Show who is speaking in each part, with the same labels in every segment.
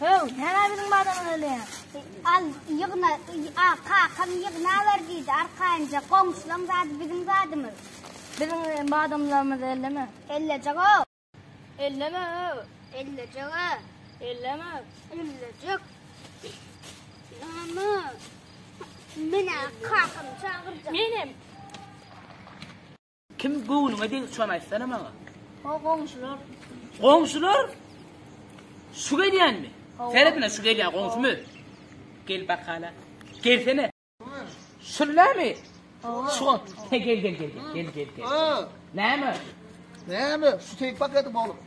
Speaker 1: Höw, näme biziň badamyz ölýär? Al,
Speaker 2: ýygna, a, kakam ýygna ber diýdi, arkaýynja, goňşulaň zady biziň zadymyz. Biziň e,
Speaker 1: badamlarymyzy elleme. Ellejek-o. Elleme, höw.
Speaker 2: Ellejek-o. Elleme. Ellejek. Mama. Menä kakam çagyrjak. Menem.
Speaker 3: Kim göwnüňe degdi şony aýtsana maňa. O goňşular.
Speaker 1: Goňşular?
Speaker 3: Şu gelýänmi? Seretme şu gelýän goňşumy? Gel bakala. Gelsene. Şullamy? Şu gel gel gel gel gel gel. Näme? Näme?
Speaker 4: Şu tek paketi bolup.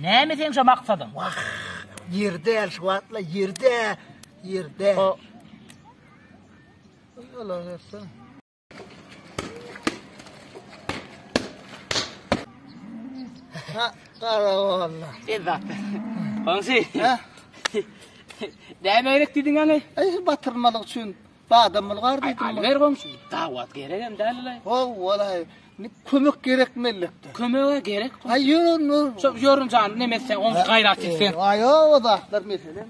Speaker 3: Näme seň şo maksadyň? Wah, ýer
Speaker 4: däl şu wagtla, ýer däl, ýer däl. O. Ýola bersin. Ha, gara walla. Ezzat.
Speaker 3: Onsi. Ha? Näme gerek diýdiň ýaly? Eý, batyrmalyk
Speaker 4: üçin. Badam bulgar diýdim. Aý, ber goňşy, dawat
Speaker 3: geregem däl-le. Haw, walaý,
Speaker 4: kömek gerek mellekde. Kömege gerek.
Speaker 3: Aý, ýörün, ýörün.
Speaker 4: Şo
Speaker 3: ýörün
Speaker 4: jan,
Speaker 3: neme
Speaker 4: sen, oň
Speaker 3: gaýrat et sen. Aý, o zatlar meselem.